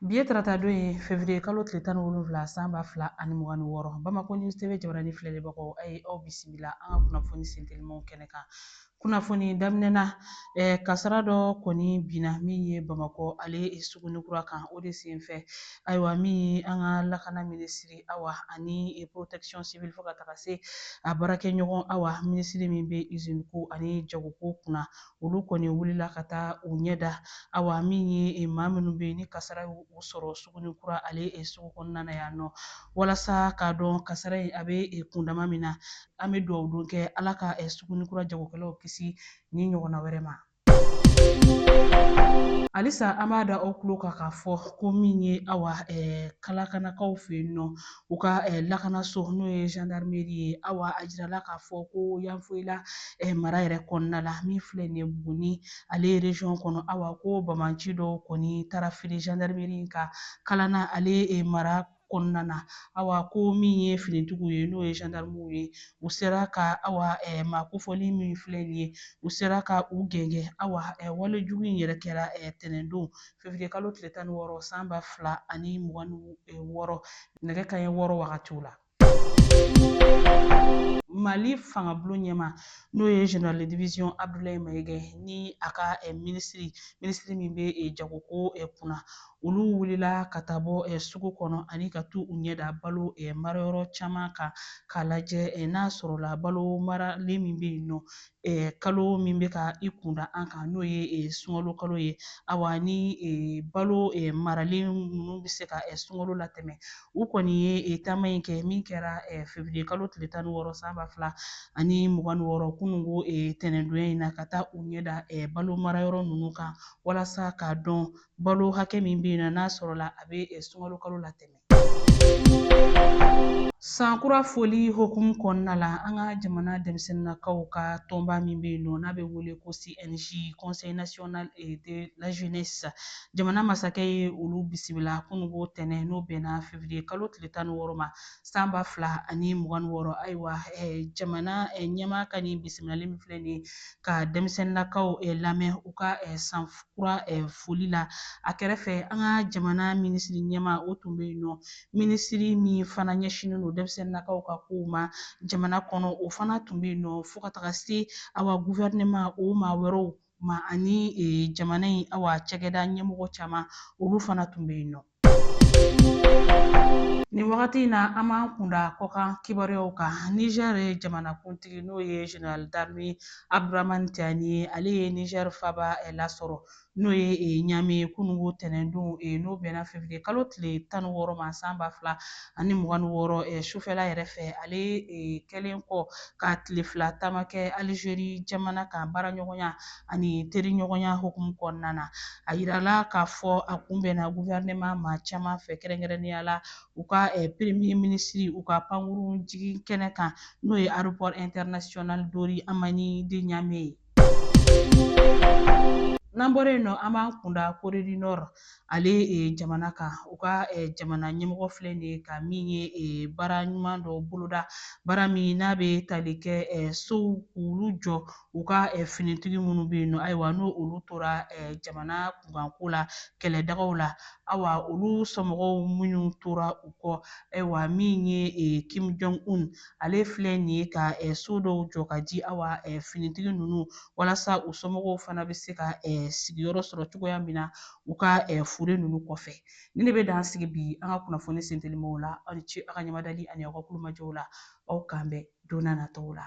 Bi ye tarata don ye fevriye kalo tile tan ni wolonwula san ba fila ani mugan ni wɔɔrɔ bamakɔ news tv jabarani filɛlibagaw a ye aw bisimila an ka kunnafoni sentelimanw kɛnɛ kan kunnafoni daminɛ na eh, kasara dɔ kɔni binna min ye bamakɔ ale suguni kura kan o de senfɛ ayiwa min ye an ka lakana minisiri awa ani protection civile fo ka taga se a baarakɛɲɔgɔn awa minisiri min bɛ usine ko ani jagoko kunna olu kɔni wulila ka taa u ɲɛ da awa min ye eh, maa minnu bɛ yen ni kasara y'u sɔrɔ suguni kura ale eh, sugu kɔnɔna na yan nɔ walasa k'a dɔn kasara in a bɛ eh, kundama min na an bɛ dugawu don kɛ ala ka suguni kura jagokɛlaw kisi nin ɲɔgɔnna wɛrɛ ma halisa an b'a da aw tulo kan k'a fɔ ko min ye awa kalakanakaw fɛ yen nɔ u ka lakanaso n'o ye zandarimeri ye awa a jirala k'a fɔ ko yanfoyila mara yɛrɛ kɔnɔna la min filɛ nin ye buguni ale ye reziyɔn kɔnɔ awa ko banbaanci dɔw kɔni taara firi zandarimeri in kan kalana ale mara kɔnɔna na awa ko min ye finitigiw ye n'o ye zandarimuw ye u sera ka awa maa kofɔlen min filɛ nin ye u sera ka u gɛngɛ awa wale jugu in yɛrɛ kɛra tɛnɛndon février kalo tile tan ni wɔɔrɔ san ba fila ani mugan ni e, wɔɔrɔ nɛgɛ kanɲɛ wɔɔrɔ wagatiw la mali fangabulon ɲɛmaa n'o ye général de division abdulayi mayiga ni a ka eh, minisiri minisiri min bɛ eh, jagoko eh, kunna olu wulila ka taa bɔ sugu kɔnɔ ani ka t'u ɲɛda balo marayɔrɔ caman kan k'a lajɛ n'a sɔrɔla balo maralen min bɛ yen nɔ kalo min bɛ ka i kunda an kan n'o ye sunkalo kalo ye awa ni balo maralen ninnu bɛ se ka sunkalo latɛmɛ u kɔni ye taama in kɛ min kɛra fevriye kalo tile tan ni wɔɔrɔ san ba fila ani mugan ni wɔɔrɔ kununko tɛnɛndonya in na ka taa u ɲɛda balo marayɔrɔ ninnu kan walasa k'a dɔn balo hakɛ min bɛ yen nɔ n'a sɔrɔla a bɛ sunkalo kalo latɛmɛ San kura foli hukumu kɔnɔna la an ka jamana denmisɛnninnakaw ka tɔnba min bɛ yen nɔ n'a bɛ wele ko CNJ Conseil National de la Jeunesse jamana masakɛ ye olu bisimila kununko tɛnɛn n'o bɛnna février kalo tile tan ni wɔɔrɔ ma san ba fila ani mugan ni wɔɔrɔ ayiwa jamana ɲɛmaa ka nin bisimilali min filɛ nin ye ka denmisɛnninlakaw eh, lamɛn u ka eh, san kura eh, foli la a kɛrɛfɛ an ka jamana minisiri ɲɛmaa o tun bɛ yen nɔ minisiri min fana ɲɛsinnen don denmisɛnninlakaw ka kow ma jamana kɔnɔ o fana tun bɛ yen nɔ fo ka taga se awa guvɛrinɛma o maa wɛrɛw ma ani jamana in awa cakɛda ɲɛmɔgɔ caman olu fana tun bɛ yen nɔ Nin wagati in na an b'an kunda kɔkan kibaruyaw kan nizɛri jamanakuntigi n'o ye zenerali darime abudramani tiyani ye ale ye nizɛri faaba lasɔrɔ n'o ye ɲame ye kununko tɛnɛndon n'o bɛnna fevriye kalo tile tan ni wɔɔrɔ ma san ba fila ani mugan ni wɔɔrɔ sufɛla yɛrɛ fɛ ale kɛlen kɔ ka tile fila taama kɛ alizeri jamana kan baaraɲɔgɔnya ani teriɲɔgɔnya hokumu kɔnɔna na a yirala k'a fɔ a kunbɛnna guvɛrɛnɛma maa caman fɛ kɛrɛnkɛrɛnnenya la u ka eh, peremiye minisiri u ka pankurun jigin kɛnɛ kan n'o ye aropɔr intɛrinasiyɔnali diori hamani de ɲame ye n'an bɔra yen nɔ an b'an kunda kore di nɔr ale jamana kan u ka jamana ɲɛmɔgɔ filɛ nin ye ka min ye baara ɲuman dɔ boloda baara min n'a bɛ tali kɛ sow k'olu jɔ u ka finitigi minnu bɛ yen nɔ ayiwa n'olu tora jamana kunkanko la kɛlɛdagaw la awa olu somɔgɔw minnu tora u kɔ ayiwa min ye kim jong un ale filɛ nin ye ka so dɔw jɔ ka di awa finitigi ninnu walasa u somɔgɔw fana bɛ se ka sigiyɔrɔ sɔrɔ cogoya min na u ka fure ninnu kɔfɛ nin de bɛ dan sigi bi an ka kunnafoni sentelimaw la aw ni ce aw ka ɲamadali ani aw ka tulomajɔw la aw k'an bɛn don n'a nataw la